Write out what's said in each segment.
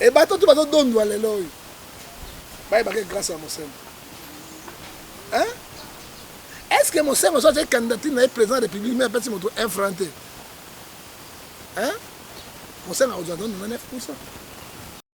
e bato tu bazodondwa lelo oyo bayebaka grâce ya mosema est ce que mosema so azali candidature na ye président ya république me apesi moto un franc te mosema akozwa ndondo na 9 pourcent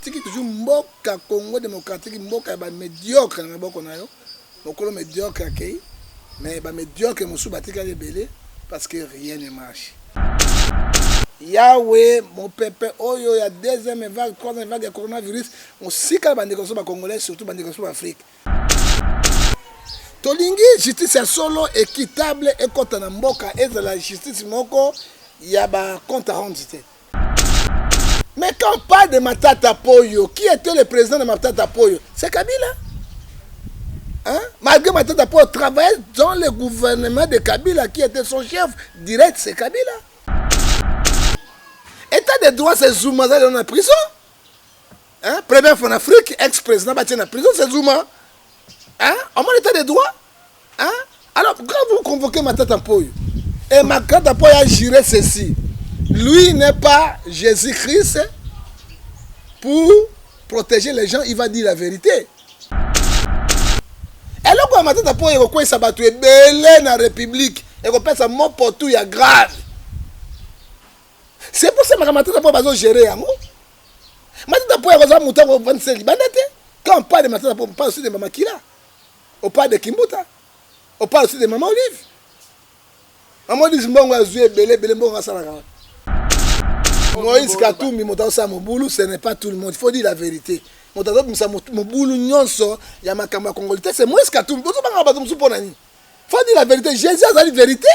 tiki toujours mboka congo démocratique mboka ya bamediocre na maboko na yo mokolo mediocre akei mais bamediocre mosusu batikali ebele parce que rien ne marche yawe mopepe oyo ya deuxième vague troisième vague ya coronavirus mosika bandeko so bacongolais surtout bandeko so baafrike tolingi justice ya solo équitable ekota na mboka ezala justice moko ya ba compte rendu te mais quand pas de matata poyo qui était le président de matata poyo c'est kabila hein? malgré matata poyo travaillait dans le gouvernement de kabila qui était son chef direct c'est kabila état de droit c'est zuma azali na prison Hein? Première fois en Afrique, ex-président battu en prison, c'est Zuma. Hein? En mon état de droit. Hein? Alors, quand vous convoquez ma tête en poille, et ma tête en poille a juré ceci, lui n'est pas Jésus-Christ pour protéger les gens, il va dire la vérité. eloko ya matata mpo ekokweyisa bato ebele na république ekopesa mopotu ya grave c'est pour ça makambo matata mpo bazo gérer yango matata mpo ya kozala moto ya kovandisa libanda te quand on parle de matata mpo on parle aussi de mama kila on parle de kimbuta on parle aussi de mama olive mama olive mbongo azwi ebele ebele mbongo asalaka wapi moïse katumbi moto azosala mobulu ce n'est pas tout le monde il faut dire la vérité moto azobimisa mobulu nyonso ya makambo ya congolite c'est moïse katumbi bozobanga bato mosusu mpo na nini faut dire la vérité jésus azali vérité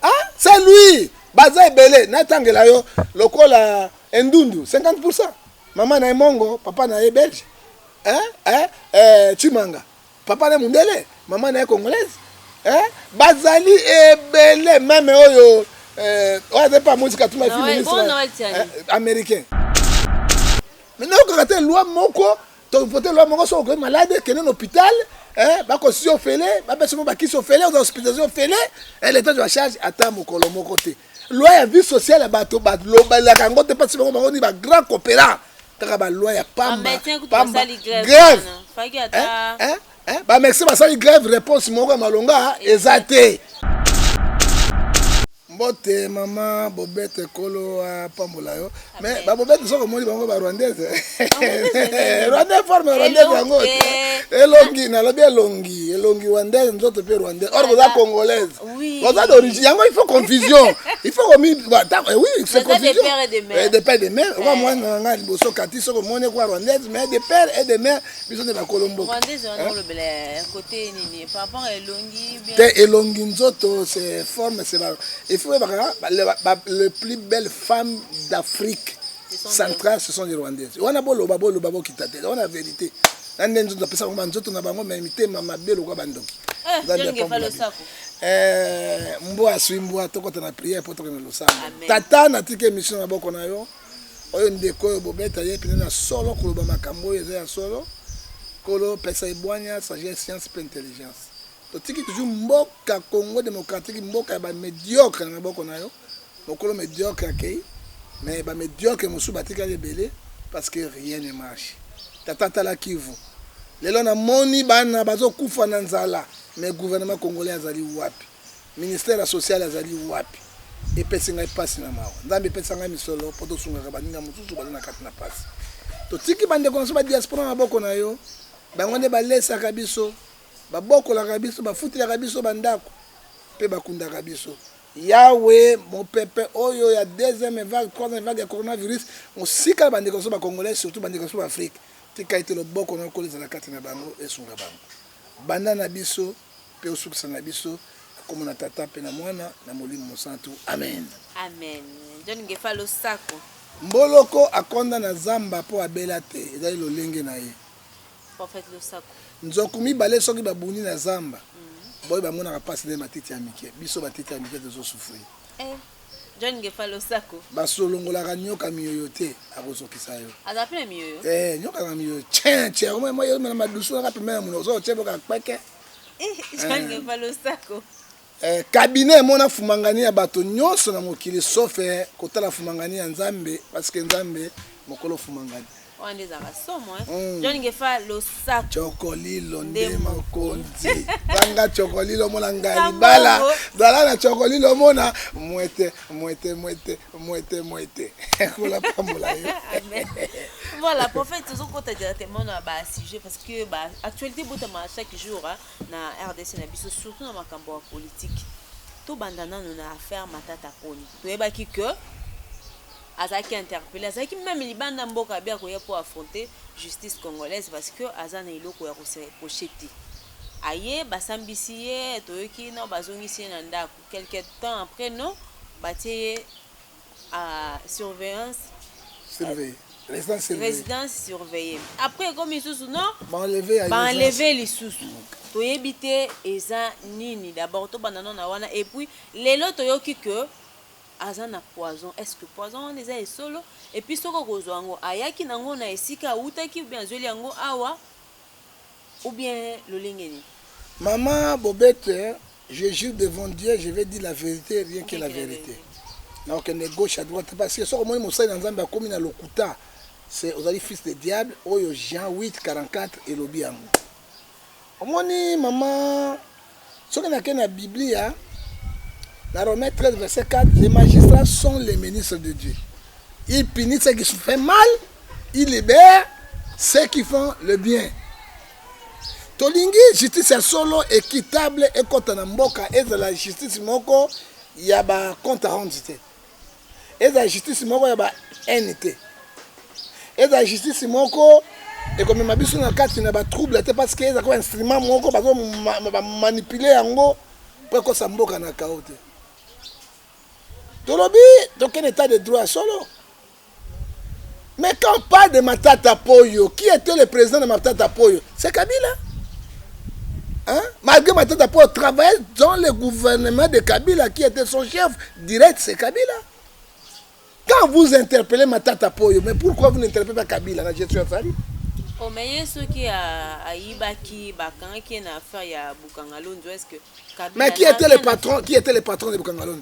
ah c'est lui baza ebele natangela yo lokola endundu 50 pourcent mama na ye mongo papa na ye belge eh, eh, eh, chimanga papa na ye mundele mama na ye congolaise eh, bazali ebele meme oyo eh, oyo azali mpe amonisi katuma efi ministre eh, américain mais nayokaka te loi moko To vote loi moko soki okomi malade kende na hôpital eh ba ko si ofele ba pesa mo ba kisi ofele oza hospitalisation ofele eh l'état de la charge ata mokolo moko te loi ya vie sociale bato ba lobelaka yango te pasi bango bango ni ba grand coopérant kaka ba loi ya pamba pamba grève eh, eh? Eh, ba Mexicains basali grève réponse moko ya malonga eza te. Mbote mama bobete kolo apambola yo. Mais ba bobete soko moni bango ba rwandaise. Rwandais forme rwandaise yango. Elongi na lobi elongi, elongi rwandaise nzoto pe rwandaise. Or boza congolaise. Boza d'origine. Yango il faut confusion. Il faut komi bah, eh oui, c'est confusion. Eh, de père et de mère. Wa mwana nganga liboso kati soko moni kwa rwandaise mais de père et de mère biso nde bakolo mboka te elongi nzoto se forme se efi oyebaka le plus belle femme d'afrique centrale ce sont les rwandaise wana boloba boloba bokita te wana verité na nde nzoto apesa bango banzoto na bango me mitema mabe lokola bandoki eh, mbwa aswi mbwa tokota na priere mpo tokende losambo tata natiki emission na boko na yo oyo ndeko oyo bobeta ye pene na solo koloba makambo oyo eza ya solo kolo pesa ebwanya sagesse science mpe intelligence totiki toujours mboka congo démocratique mboka ya bamédiocre na maboko na yo mokolo médiocre akei mais bamédiocre mosusu batikali ebele parce que rien ne marche tata tala kivu lelo namoni bana bazokufa na nzala mais gouvernement congolais azali wapi Ministère ya social azali wapi? Epesi ngai pasi na mawa. Nzambe pesa ngai misolo po tosungaka baninga mosusu baza na kati na pasi. Totiki ba ndeko na biso ba diaspora na maboko na yo. Bango nde balesaka biso, babokolaka biso, bafutelaka biso ba ndako pe bakundaka biso. Yahwe mopepe oyo ya deuxième vague, troisième vague ya coronavirus mosika na ba ndeko na biso ba congolais surtout ba ndeko na biso ba Afrique. Tika ete loboko na yo kola ezala kati na bango esunga bango. Banda na biso. Mpe osukisa na biso. Na kombo na Tata mpe na Mwana na Molimo Mosantu, amene. Amen John Ngefa losako. Mboloko akonda na zamba mpo abela te, ezali lolenge na ye. Prophète losako. Nzoku mibale soki babuni na zamba, boye bamonaka pasi nde matiti ya mike. Biso batiti ya mike tozo souffrir. Eh. John Ngefa losako. Basolongolaka nyoka miyoyo te akozokisa yo. Aza pe na miyoyo. Eh nyoka na miyoyo. Tien tien moi moi na madusu na pembe na munoko ozo tebo ka kweke. Eh John eh. Ngefa losako. Eh cabinet emona fumangani ya bato nyonso na mokili sauf eh, kotala fumangani ya Nzambe parce que Nzambe mokolo fumangani. wana nde ezalaka somo eh? mm. john ngefa losako cokolilo nde mokonzi banga cokolilo omona ngai libala zala na cokolilo omona mwete mwete mwete mwete mwete kola pambola yo voilà prophète tozokota directement na basujet parce que baactualité botama chaque jour hein, na rdc na biso surtout na makambo ya politike tobanda nano na affaire matata poni toyebaki que azalaki interpelle azalaki meme libanda mboka abi akoya mpo affronte justice congolaise parce que aza na eloko ya kose reproche te aye basambisi ye toyoki no bazongisi ye na ndako quelque temps après no batie ye a surveillance surveille résidence surveillée résidence surveillée après ekomi lisusu non baenleve lisusu toyebi te eza nini d'abord tobanda no na wana et puis lelo toyoki que aza na poison est ce que poison wana eza ya solo et puis soki akozwa yango ayaki na ngo na esika awutaki ou bien azweli yango awa ou bien lolenge nini Maman Bobette, je jure devant Dieu, je vais dire la vérité, rien que la vérité. Na okende gauche à droite parce que soki omoni mosali na Nzambe akomi na lokuta, c'est ozali fils de diable oyo Jean 8 44 elobi yango. Omoni mama soki na ke na biblia na romain 13 verset 4 les magistrats sont les ministres de dieu il punit ce qui se fait mal il libère ceux qui font le bien tolingi justice ya solo équitable ekota na mboka ezala justice moko ya ba compte rendu te ezala justice moko ya ba haine te ezala justice moko ekomema biso na kati na batrouble te parce que eza ko instrument moko bazomanipule yango mpo ekosa mboka na kao te tolobi tokende etat de droit ya solo Mais quand on parle de Matata Poyo, qui était le président de Matata Poyo C'est Kabila. Hein? Malgré Matata Poyo travaillait dans le gouvernement de Kabila, qui était son chef direct, c'est Kabila. Quand vous interpellez Matata Poyo, mais pourquoi vous n'interpellez pas Kabila la gestion Fali Oh, mais ye soki ayibaki bakangaki ye na affaire ya Bukangalonzo, est-ce que Kabila Mais qui était le patron, qui était le patron de Bukangalonzo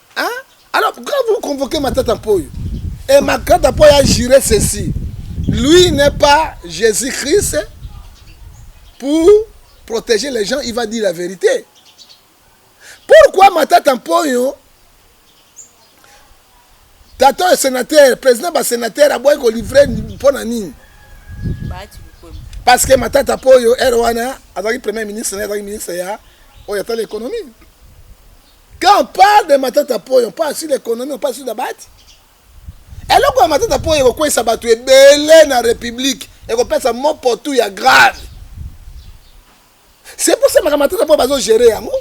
Hein? Alors, quand vous convoquez Matata Mpoyo, et Matata Mpoyo a juré ceci, lui n'est pas Jésus-Christ pour protéger les gens, il va dire la vérité. Pourquoi Matata Mpoyo, tata sénateur, président ba sénateur, aboye ko livrer mpo na nini? Parce que Matata Mpoyo, ere wana, azalaki premier ministre, azalaki ministre ya oyo atali économie. Quand on parle de Matata Poyo, on parle sur l'économie, on parle sur la bati. eloko ya matata mpo ekokweisa bato ebele na république ekopesa mopotu ya grave c'est pour ça makambo matata mpo bazogere yango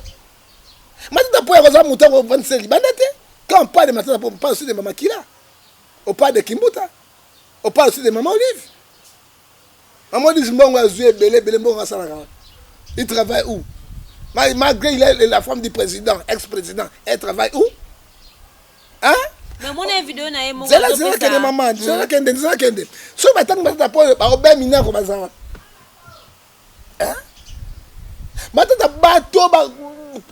matata mpo yakozala moto akofandisa libanda te quand on parle de matata mpo on parle aussi de mamakila on parle de kimbuta on parle aussi de mama olive Mamonis mbongo azui ebele ebele mbongo asalaka wapi? Il travaille où? Malgré il est la femme du président, ex-président, elle travaille où? Hein? zela zela kende mama zela kende zela kende soki batangi batata po baobemina ko bazala hein matata bato oyo ba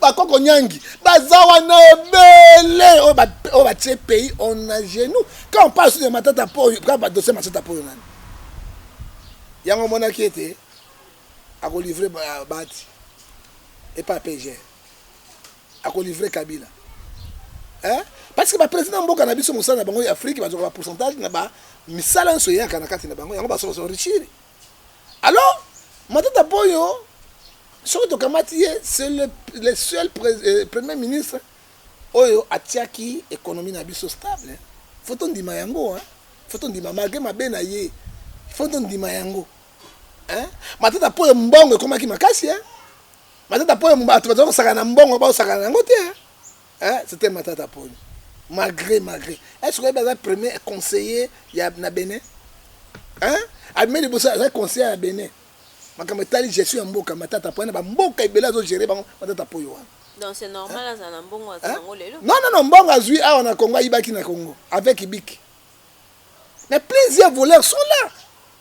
bakoko nyangi baza wana ebele oyo ba oyo batie pays on a genou quand on parle sur de matata po quand ba dossier matata po nani yango omonaki ete ako livrer bahati et pas PG ako livrer Kabila hein parce que ba président mboka na biso mosala na bango ya Afrique bazoka ba pourcentage na ba misala nso yaka na kati na bango yango basoka so richiri Alors, Matata Ponyo, soki tokamati ye, c'est le, le seul pre, eh, premier ministre oyo atiaki économie na biso stable. Faut tondima yango, hein. Faut tondima malgré mabe na ye. Faut tondima yango. Hein? Matata Ponyo mbongo ekomaki makasi, hein. Matata Ponyo bato bazali kosakana na mbongo, baosakana na yango te, hein. Hein c'etait Matata Ponyo malgre malgre est ce que oyebi aza premier conseiller ya na Benin hein abimi liboso aza conseiller ya Benin makambo etali gestion ya mboka Matata Ponyo na ba mboka ebele azo gerer bango Matata Ponyo wana Donc c'est normal hein? azala na mbongo aza nango lelo Non non non mbongo azui awa na Congo ayibaki na Congo avec Ibiki mais plusieurs voleurs sont là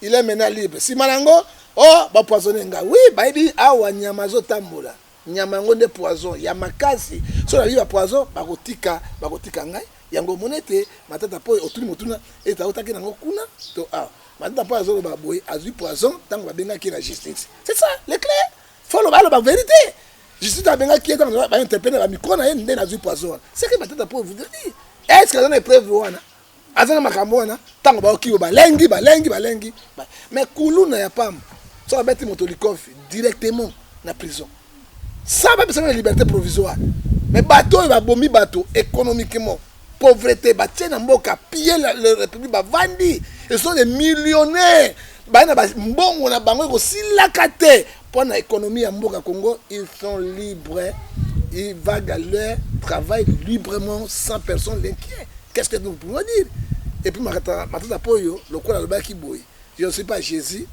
Il est maintenant libre. Sima na yango, oh, ba poisonner nga. Oui, bayebi awa nyama azo tambola. Nyama yango nde poison ya makasi. So na ba poison, bakotika, bakotika ngai. Yango monete matata po otuni motuna eta otaki nango kuna to awa. Matata po azo ba boye azui poison tango babengaki na justice. C'est ça, le clair. Faut loba loba vérité. Justice abengaki ye tango ba interpeller ba micro na ye nde nazui poison. C'est que matata po vous dire. Est-ce que azana preuve wana? aza na makambo wana ntango baokiyo balengi balengi balengi mais kuluna ya pamba so babeti moto likofi directement na prison sa bapesa na liberté provisoire mais bato oyo babomi bato économiquement pauvreté batie na mboka pille le république bavandi ezo de millionnaire baye na bambongo na bango ekosilaka te Pona economie ya mboka Congo ils sont libres ils vague leur travail librement sans personne l'inquiet qu'est-ce que nous pouvons dire et puis matata poyo lokola alobaki boye je ne suis pas Jésus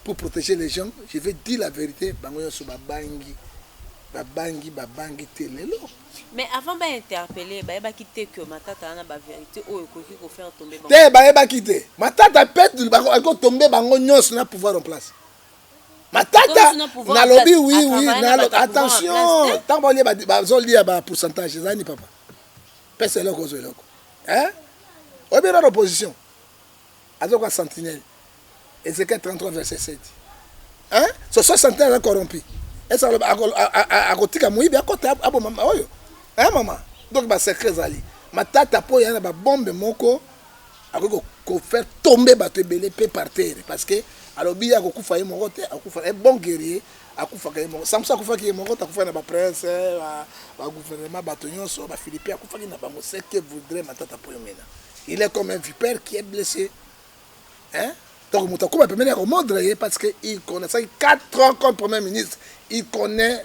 pour protéger les gens je vais dire la vérité bango nyonso babangi babangi babangi te lelo mais avant ba interpeller bayebaki te que matata wana ba vérité oyo ekoki ko faire tomber te bayebaki te matata peut akoki tomber bango nyonso na pouvoir en place matata nalobi oui oui nalo attention ntango baolie bazolia ba pourcentage eza nini papa pesa eloko ozwa eloko oyebi nano opposition azoka sentinelle ezekiel 33 verset 7 hein? so so sentinelle aza corrompu esa akotika moyibi akota aboma oyo hein mama donc basecret ezali matata mpo ya na babombe moko akoki ko faire tomber bato ebele pe par terre parce que alobi ye akokufa ye moko te akufa un bon guerrier akufaka ye moko samson akufaki ye moko te akufaki na ba prince ba, ba gouvernement bato nyonso ba philippe akufaki na bango ce que voudrait matata poyo mena il est comme un vipère qui est blessé hein donc moto akuba pembeni ya komodre ye parce que il connaissaki 4 ans comme premier ministre il connaît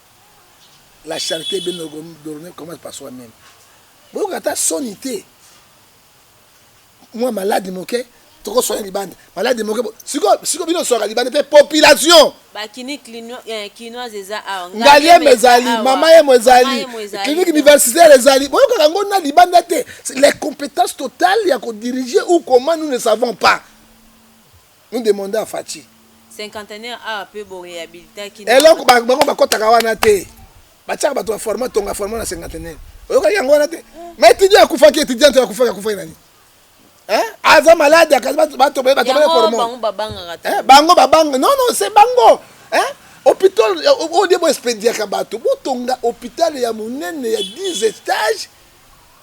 la charite bien ordonnee commence par soi meme boyoka ata soni te mwa malade moke toko soigner libanda malade moke siko siko bino soaka libanda te population bakini eh, kinoise eza awa ngaliema ezali mama yemo ezali clinique universitaire ezali boyokaka ngo na libanda te les compétences totales ya kodirige ou comment nous ne savons pas nous demande à Fatshi. Cinquantenaire awa pe bo rehabilitaki nanga. Eloko bango bakotaka wana te. Batiaka bato ya format tonga format na cinquantenaire. Oyokaki yango wana te? Mais étudiant akufaki étudiant to akufaki akufaki nani? Hein? Aza malade akaza bato bato bato bato format. Bango babanga te. Hein? Bango babanga. Non non, c'est bango. Hein? Hôpital au lieu bo expediaka bato, bo tonga hôpital ya monene ya 10 étages.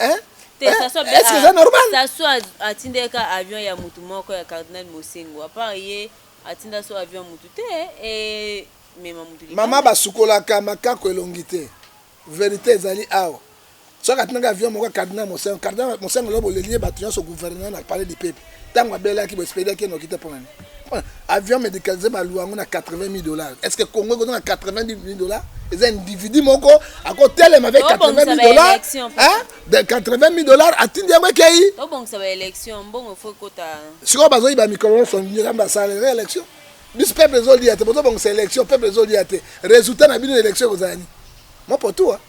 Hein? Te, eh, Sassou est-ce que c'est normal? Sassou atindeka avion ya mutu moko ya cardinal Mosengo. Apart ye atinda so avion mutu te et mema mutu libanda. Mama basukolaka makako elongi te. Verite ezali awa. Soki atindaka avion moko ya cardinal Mosengo, cardinal Mosengo lobo lelie bato nyonso gouvernement na palais du peuple. ntango abelaki boespedaki ye noki te mpo nani avion médicalisé baluwa yango na 80 000 dollars est ce que congo ekozonga 80 000 dollars eza individu moko akotelema avec 80 000 dollars de 80 000 dollars atindi yango ekei sikoyo bazoyiba mikolo nyonso nzambe asalere élection biso peuple ezolia te bozobongisa élection peuple ezolia te résultat na bino na élection ekozala nini mopotua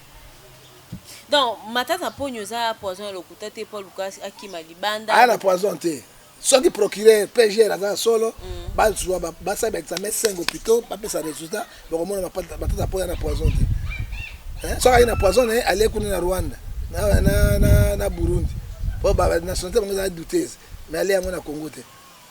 Donc Matata Ponyo eza poison ya lokuta te po aluka akima libanda. Aya na poison te. Soki procureur PGR aza ya solo mm. bazwa basala ba examen 5 hôpitaux bapesa résultat bakomona Matata Ponyo na poison te. Hein? Soki ayi na poison naye alie kuna na Rwanda na, na, na, na Burundi po ba nationalité bango eza douteuse mais alie yango na Congo te.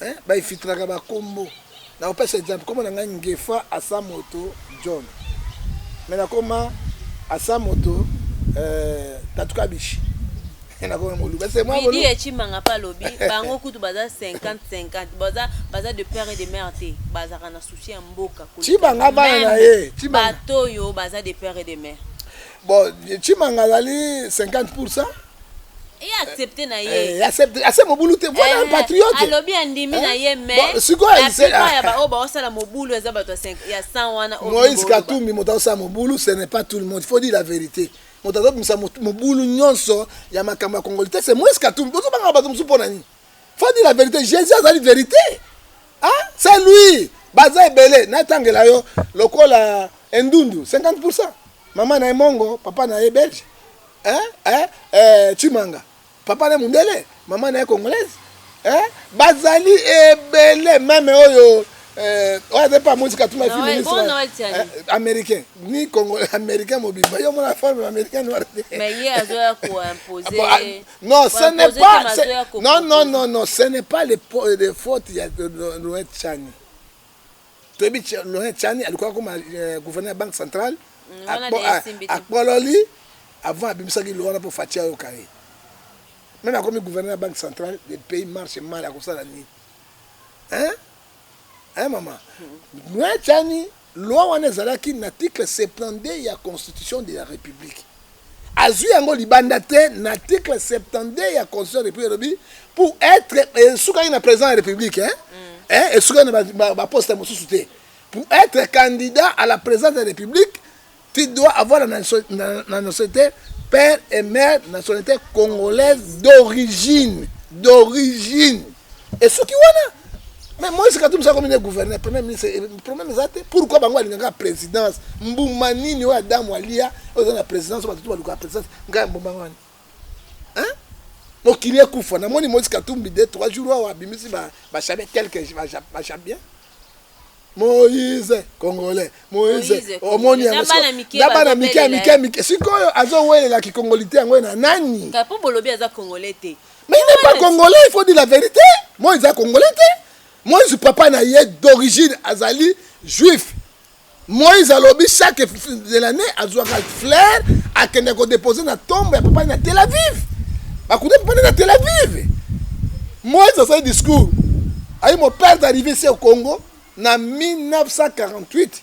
eh, baifitraka bakombo na kopesa exemple kombo na ngai ngefa asa moto john me nakoma asa moto eh, tatu kabishi nakoma moluba midi ecimanga mpe alobi bango kutu baza 50 50 baza, baza de père et de mère te bazalaka na souci ya mboka cibanga bana na ye bato oyo baza de père et de mère bon cimanga azali 50 pourcent ye accepte na ye eh, accepte ase mobulu te voilà un eh, patriote alobi andimi na ye eh, mais sikoyo ise ya ba oyo baosala mobulu eza bato ya 100 wana Moïse Katumbi moto asala mobulu ce n'est pas tout le monde il faut dire la vérité moto azobimisa mobulu nyonso ya makambo ya congolais te c'est Moïse Katumbi bozobanga bato mosusu mpo na nini faut dire la vérité Jésus azali vérité ah c'est lui baza ebele natangela yo lokola endundu 50 pourcent mama na ye mongo papa na ye belge Eh eh eh Tshimanga papa naye mundele maman naye congolaise eh bazali ebele meme oyo eh, oyo aza mpe amonisi katuma efi ministre eh, américain ni congo américain mobimba yo mona forme ya américain noir non ce n'est pas non non non non ce n'est pas les, les fautes ya noet chani toyebi Laurent Tshani aluka akoma euh, gouverneur ya banque centrale mm, akpololi avant abimisaki loi wana mpo Fatshi ayoka ye meme akomi gouverneur ya banque centrale le pays marche mal akosala nini hein hein mama Laurent Tshani loi wana ezalaki na article 72 ya constitution de la république Azui yango libanda te na article 72 ya constitution ya republique elobi pour etre esukaki na president ya republique hein? Mm. Eh, esukaki na baposte ba, ba, ba mosusu te pour etre candidat à la présidence de la république tu dois avoir la nationalité père et mère nationalité congolaise d'origine d'origine esuki wana mais moise katumbi sa komine gouverneur premier ministre eh, problème eza te pourquoi bango alingaka présidence mbuma nini oyo adamu alia oyo eza na présidence oyo bato tu balukaka présidence ngai mbuma ngani hein mokili ekufa namoni moise katumbi de trois jours awa abimisi bachabien quelque bachabien moise congolais moise omoni yango na bana mike ya mike mike sikoyo azowelela kikongoli te yango na nani Mais il n'est pas congolais, il faut dire la vérité. Moi, ils congolais. Moi, je papa na d'origine azali juif. moïse alobi chaque de l'année azwaka flair akende kodepose na tombe ya papa na tel aviv bakuta papa na tel aviv moïse asali discours ayi mon père d'arrivé se au congo na 1948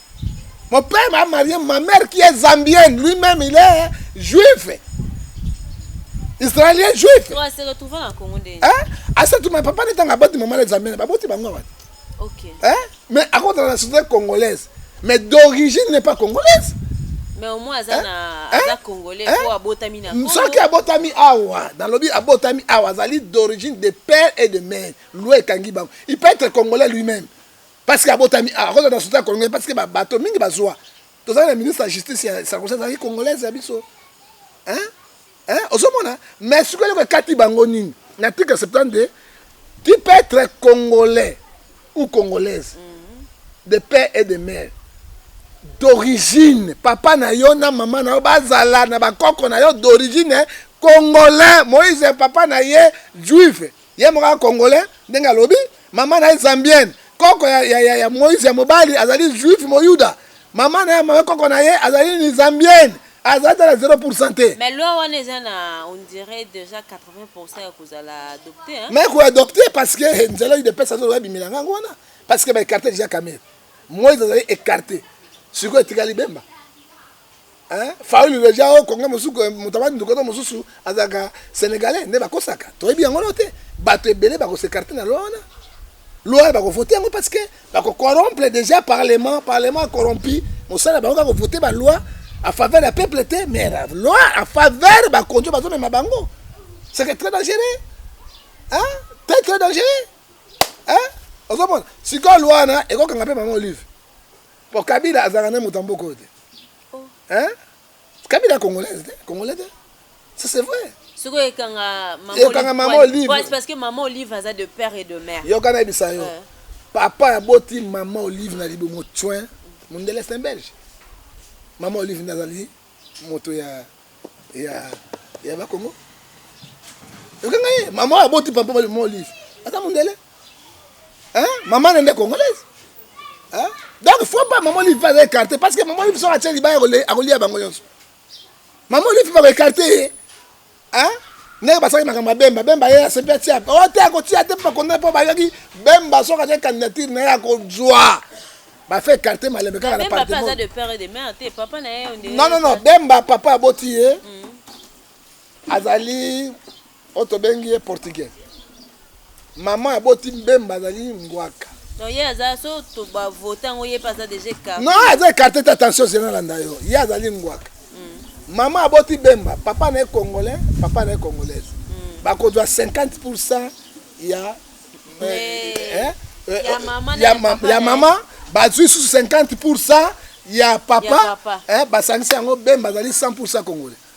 Mon père m'a marié ma mère qui est zambienne, lui-même il est juif. Israélien juif. Toi, c'est retrouvé en Congo déjà. Hein? À ce moment, papa n'est pas bâti maman les zambienne, papa tu bango. OK. Hein? Mais à cause de la société congolaise, mais d'origine n'est pas congolaise. Mais au moins aza hein? na hein? aza congolais hein? po abotami na Congo. Soki abotami awa, dans lobi abotami awa, azali d'origine de père et de mère. Loué Kangi bango. Il peut être congolais lui-même. Parce que abotami awa, akozala na soutien ya congolais parce que ba bateau mingi bazwa. Tozali na ministre ya justice ya Sarkozy azalaki congolaise ya biso. Hein? Hein? Ozomona? Mais sikoyo eloko ekati bango nini? Na article 72, tu peux être congolais ou congolaise de père et de mère d'origine papa na yo na mama na yo bazala na bakoko na yo d'origine congolais moïse papa na ye juive Ye moko aza congolais ndenge alobi, mama na ye zambienne, koko ya, ya, ya, ya Moïse ya mobali azali juif moyuda, mama na ye mama koko na ye azali nini zambienne, azali ata na 0% te. Mais loi wana eza na on dirait dejà 80% ya kozala adopte hein. Mais ko adopte parce que eh, nzela udps azo loba bimela ngango wana parce que ba écarter déjà Kamerhe. Moïse azali écarté. Sikoyo etikali Bemba. Hein? Fayulu deja au Congo mosusu motabadi ndokoto mosusu azalaka Sénégalais nde bakosaka toyebi yango no te bato ebele bakosecarte na loi wana loi wana bakovote yango parce que bakocorompre déjà parlement parlement corrompu mosala bango kaka kovote baloi a faveur ya peuple te mais loi a faveur bakonjo bazomema bango c'est que très dangereux hein? très très dangereux hein? ozomona sikoyo loi wana ekokanga mpe mama olive Po Kabila azalaka na moto ya mboka oyo te. Oh. Hein? Kabila congolaise te, congolais te. Ça c'est vrai. Soko ekanga maman Olive. Ekanga maman Olive. Ouais, parce que maman Olive aza de père et de mère. Yoka na bisa yo. Euh. Papa aboti maman Olive na libo motsoin. Mondele c'est belge. Maman Olive nazali moto ya ya ya ba Congo okanga ye mama aboti papa ba mo olive aza mondele hein mama nende congolaise hein donc faut pas mama olive va écarter parce que mama olive sera tcheli ba akolia bango yonso mama olive va écarter Hein? ndenge basali makambo ya bemba bemba ye asepi atia o oh, te akotia te mpo bakondane mpo bayaki bemba soki atie candidature na ye akozwa bafe écarte malembe kaka na partenon non non bemba papa aboti ye mm. azali oyo tobengi ye portugais Maman aboti mbemba azali ngwaka. Non, ye aza so to ba vote yango ye pe aza deja écarté. Non, aza écarté te attention zena landa yo. Ye azali ngwaka. Mm. Maman aboti bemba, papa na ye congolais, papa na ye congolaise. Mm. Bakozwa 50% ya eh, eh, eh, ya mama ya, ma, ya mama bazwi susu 50% ya papa, ya papa. Eh, basangisi yango bemba azali 100% congolais.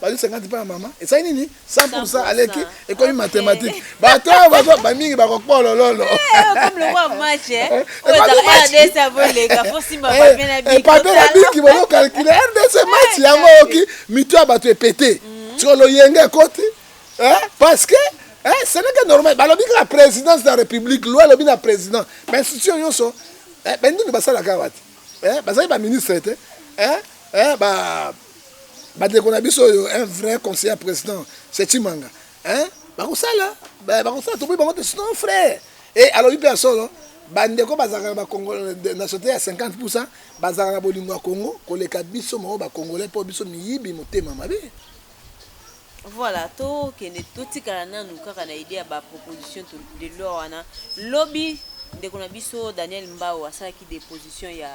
bazo 50 pa ya mama esali nini 100% aleki ekomi mathematique bato oyo bazo bamingi bakokpolololo pape babiki bozo calcule rdc match yango oyoki mito ya bato epete mm. siko loyenge ekoti parce que ce n'est que normal balobi kaka présidence de la république loi elobi na président bainstitution nyonso bandini basalaka wati bazali baministre te Bandeko na biso oyo un vrai conseiller ya president c'est Tshimanga hein bakosala ba- bakosala toboyi bango te sinon frère e alobi mpe ya solo bandeko bazalaka na bakongo na sote ya 50 pusa bazalaka na bolingo ya kongo koleka biso moko bakongolais mpo biso miyibi motema mabe Voilà, to kende to tikala nanu kaka na idée ya ba proposition to- de loi wana. Lobi ndeko na biso Daniel Mbao asalaki deposition ya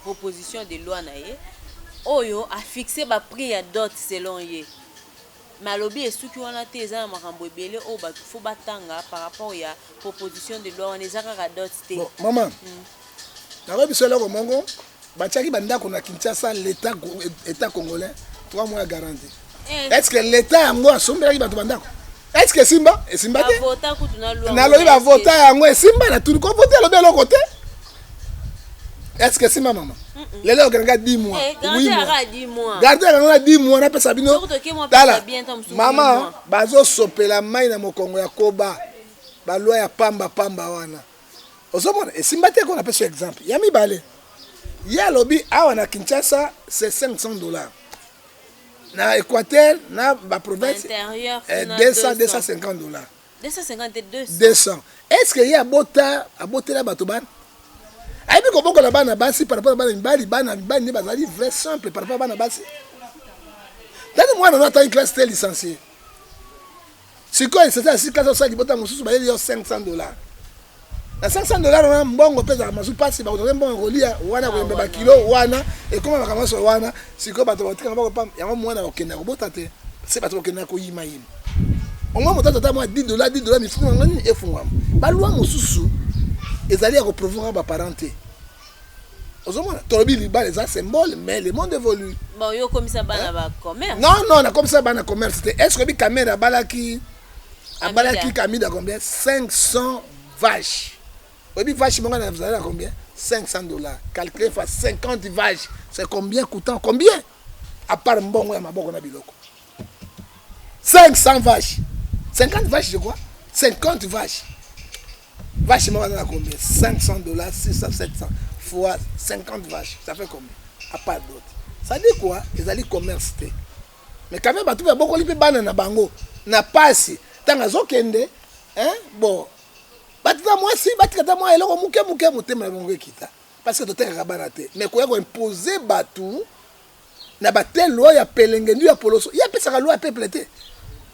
proposition de loi na ye oyo a fixe ba prix ya dot selon ye mais alobi esuki wana te eza na makambo ebele oyo batu faut batanga par rapport ya proposition de loi wana eza kaka dot te bon, mama mm. nakoyi biso eloko moko batiaki bandako na kinshasa leta etat congolais 3 mois ya garantie Eh. Est-ce que l'État yango asombelaki bato bandako? Est-ce que Simba? Esimba te. Nalobi ba vota yango esimba na tuni ko voter lobi eloko te. Est-ce que Simba mama? Lelo okendaka 10 mois. Eh, oui mois. Garde yango na 10 mois napesa bino. Tala. Mama bazosopela mai na mokongo ya koba. Balwa ya pamba pamba wana. Ozomona esimba te ko napesa exemple. Ya mibale. Ye alobi awa na Kinshasa c'est 500 dollars. na Equateur na ba province interieur 200 250 dollars 250 te 200 200 est ce que ye abota abotela bato bana ayebi kobokola bana basi par rapport na bana mibali bana mibali nde bazali vrai simple par rapport na bana basi tani mwana no atangi classe te licencie sikoyo eseza ya sika azosala libota mosusu bayeli yo 500 dollars na 500 dollars wana mbongo mpe ezalaka mazu mpasi bakozala mbongo kolia wana koyemba bakilo wana ekoma makambo nyonso wana sikoyo bato bakotikana bakopa yango mwana akokenda kobota te se bato bakokenda koyimayima omwa moto azata mwa 10 dollars 10 dollars mifumu yango nini efungwama balwa mosusu ezali ya koprovoka baparent te ozomona tolobi libala eza symbole mais le monde évolue bon yo okomisa bana ba commerce non non nakomisa bana commerce te est ce oyebi kamere abalaki abalaki kamida combien 500 vache oyebi vache moko na zala na combien 500 dollars calculé fois 50 vache c'est combien coûtant combien à part mbongo ya maboko na biloko 500 vaches 50 vaches je crois 50 vaches vache moko aza combien 500 dollars 600 700 fois 50 vaches ça fait combien à part d'autres ça dit quoi ezali commerce te mais quand même bato babokoli mpe bana na bango na pasi ntango azokende bon batika mwasi batika ta mwa eloko moke moke motema na bango ekita parce que totekaka bana te mais koya koimpose bato na ba te loi ya pelengendu ya poloso ye apesaka loi ya peuple te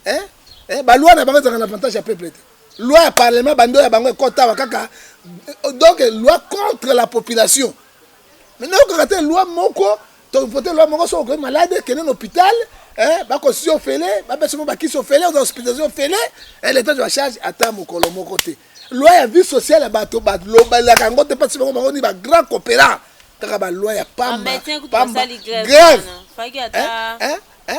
hein eh, ba loi na bango ezalaka na avantage ya peuple te loi ya parlement bando ya bango ekotawa kaka euh, donc loi contre la population mais nayokaka te loi moko tovote loi moko soki okoki malade kende na hôpital eh, bakosi ofele bapesi mo bakisi ofele oza hospitalisation ofele eh, leta zwa charge ata mokolo moko te loi ya vie sociale ya bato balobelaka yango te mpasi bango bango ni ba grand coopera kaka ba loi ya pamba pamba grève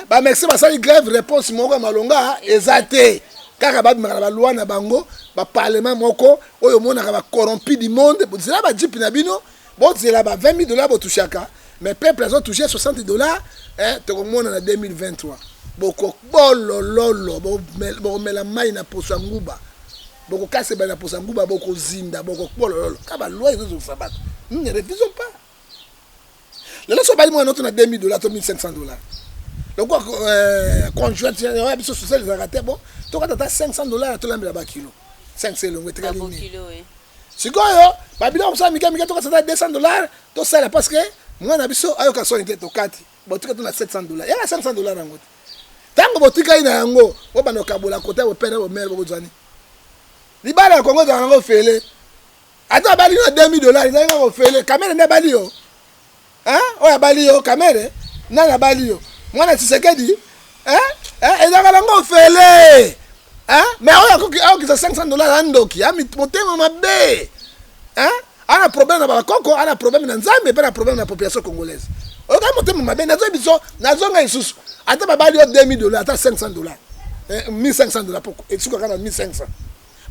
bamexi basali grève réponse moko ya malonga eza te kaka babimaka na balwa na bango baparlement moko oyo omonaka bacorrompi du monde zela bajipe na bino Bozela ba 20 000 dollars botushaka mais peuple azo touche 60 dollars eh, tokomona na 2023 bokobolololo bokomela mai na poso ya nguba bokokasa ebale na poso ya nguba bokozinda bokobolololo ka baloi ezozongisa bato nous ne refusons pas lelo so obali mwana oto na 2000 dollars to 1500 dollars lokola euh, conjointe ya biso sociale ezalaka te bo tokata ata 500 dollars tolambela bakilo 5 elongo etikali nini Sikoyo ba biloko mosala mike mike tokasa ata 200 dollars tosala parce que mwana na biso ayoka soni te tokati botika to na 700 dollars yaka 500 dollars yango te ntango botikali na yango bobanda kokabola kota bopere bomere bokozwani libala ya kongo ezalaka yango ofele ata abali yo na 2000 dollars ezalaki kaka ofele kamere nde abali yo Hein? Oyo abali yo kamere? Nani abali yo? Mwana Tshisekedi? Hein? Hein? Ezaka nango ofele. Hein? Mais oyo akoki akokisa 500 dollars andoki, a motema mabe. Hein? Ana problème na bakoko, ana problème na Nzambe, pe na problème na population congolaise. Oyo kaka motema mabe, nazo biso, nazo ngai susu. Ata babali yo 2000 dollars, ata 500 dollars. Eh, 1500 dollars poko. Esuka kaka na 1500.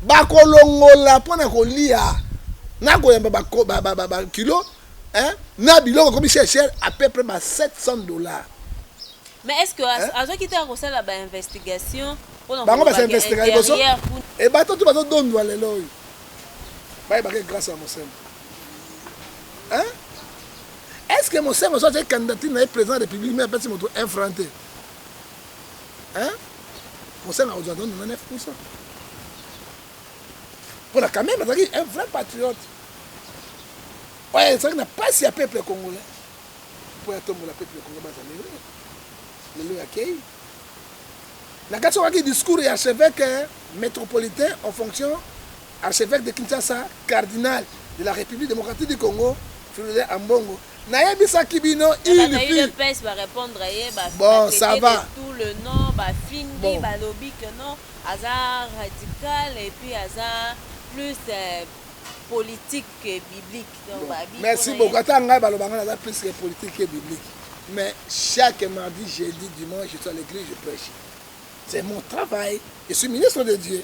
Bakolongola mpo na koliya na koyamba ba kilo na biloko ekomi cher cher à peu près ba 700 dollars. Mais est-ce que hein? azoki te akosala ba investigation pona bango basa investiga liboso e bato tu bazo dondwa lelo oyo bayebaka grâce ya mosembo hein est-ce que mosembo so atie candidature na ye président ya république mais apesi moto un franc te hein mosala ozwa ndondo na 9 pousa mpo na kameme azalaki un vrai patriote oyo ezalaki na mpasi ya peuple congolais mpo ya tombola peuple congolais bazaleli lelo ya kei na kati okaki discours ya archevêque eh, métropolitain en fonction archevêque de kinshasa cardinal de la république démocratique du congo fulule ambongo Na yebisaki bino il fut bon ça va. Merci beaucoup ata ngai baloba ngai naza plus que politique que biblique mais chaque mardi jeudi dimanche je suis à l'église je prêche c'est mon travail je suis ministre de Dieu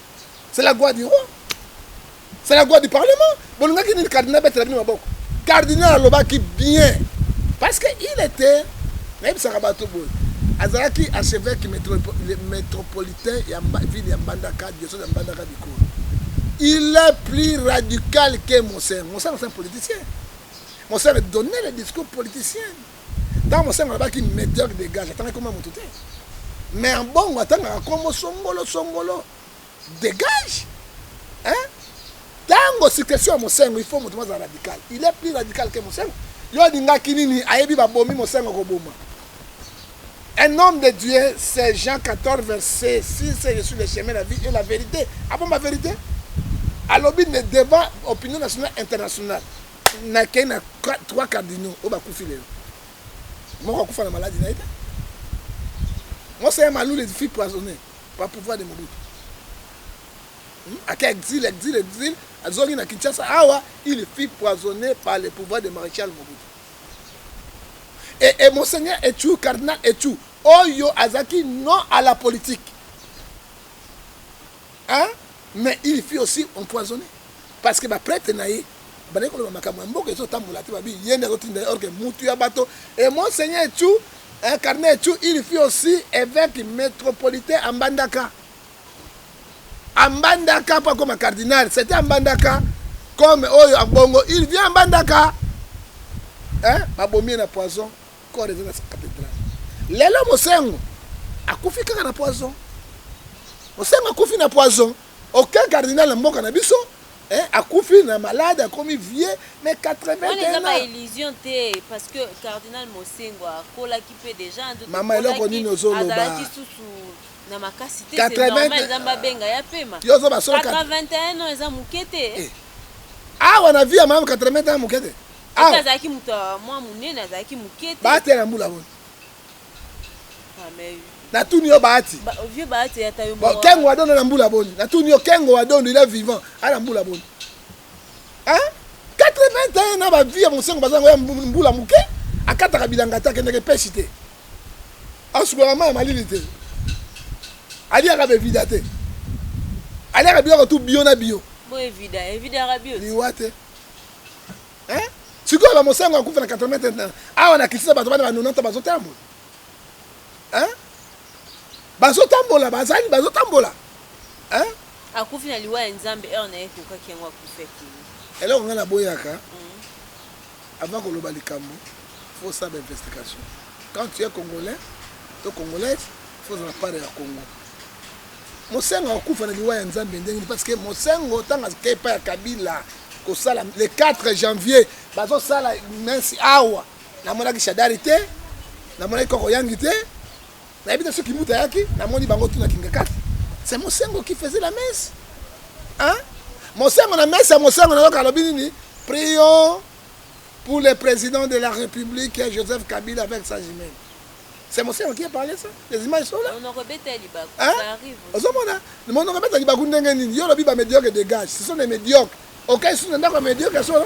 c'est la gloire du roi c'est la gloire du parlement bolingaki nini cardinal betela bino maboko cardinal alobaki bien parce que il était nayebisaka bato boye azalaki archevêque métropolitain ya ville ya mbandaka diocèse ya mbandaka bikolo il est plus radical que monseigneur monseigneur c'est un politicien monseigneur donnait le discours politicien Tango Mosengwo alobaki meteur de gage atangaki kombo ya mutu te mais Ambongo atangaka kombo Songolo Songolo de gage hein tango succession ya Mosengwo il faut mutu moko azala radical il est plus radical que Mosengwo yo olingaki nini ayebi babomi Mosengwo koboma Un homme de Dieu, c'est Jean 14, verset 6, je suis le chemin, la vie et la vérité. Ah bon, ma vérité Alobi ne devant opinion nationale internationale. Nakei na trois cardinaux oyo bakufi lelo. Moko akufa na maladi na ye te. Monseigneur Malule fut poisonne par pouvoir de Mobutu. Hmm? Ake exil, exil, exil, azongi na Kinshasa awa, il fut poisonné par le pouvoir de Maréchal Mobutu. Et, et Monseigneur Echou, Cardinal Echou, oyo azaki non à la politique. Hein mais il fut aussi empoisonne parce que ba pretre na ye bandaki koloba makambo ya mboka ezo tambola te babi ye nde azo tinda ye or que mutu ya bato et monseigneur Chu incarne Chu il fut aussi eveque metropolitain à Mbandaka à Mbandaka po akoma cardinal c'était à Mbandaka comme oyo abongo il vient à Mbandaka hein babomi ye na poison corps eza na cathedrale lelo mosengo akufi kaka na poison mosengo akufi na poison aucun cardinal na mboka na biso eh, akufi na malade akomi vie mais 81illusion te parce que cardinal mosengo akolaki mpe déjà mama eloko nini ozoloba na makasi te c'est normal eza babenga ya pema 81 ans eza moke te eh. awa na vie ya mama 81 ans moke te Awa. Azalaki moto ya mwa monene, azalaki moke te. Bahati na mbula boni? Ah, mais na tuni yo bahati ba, vieux bahati ata yo bon, kengo wadondo na mbula boni na tuni yo kengo wadondo il est vivant ana mbula boni hein 81 na ba vie ya mosengo baza ngo ya mbula moke akataka bilanga te akendeke peshi te asukolaka mai ya malili te aliaka bevida te aliaka biloko tu bio na bio liwa te sikoyo bamosango akufa na 80 awa na kisisa bato bana ba 90 bazotambola bazotambola bazali bazotambola akufi na liwa ya nzambe heure na ye ekokaki yango akufi akili eloko ngai naboyaka mm. avant koloba likambo faut saba investigation quand tu es congolais to congolaise faut zala pare ya congo Mosengo akufa na liwa ya Nzambe ndenge parce que Mosengo ntango ake epai ya Kabila kosala le 4 janvier bazosala messe awa namonaki Shadari te namonaki Koko Yangi te nayebi te soki Kimbuta ayaki namoni bango tuna Kingakati c'est Mosengo qui faisait la messe hein? Mosengo na messe ya Mosengo nayoka alobi nini prions pour le président de la République Joseph Kabila avec sa jumelle C'est mon cerveau qui a parlé ça Les images sont là Monoko beta libaku, hein? ça arrive Ozomona Monoko beta libaku ndenge nini Yo lobi ba médiocre dégage Ce sont des médiocres Ok, sous nenda kwa médiocre solo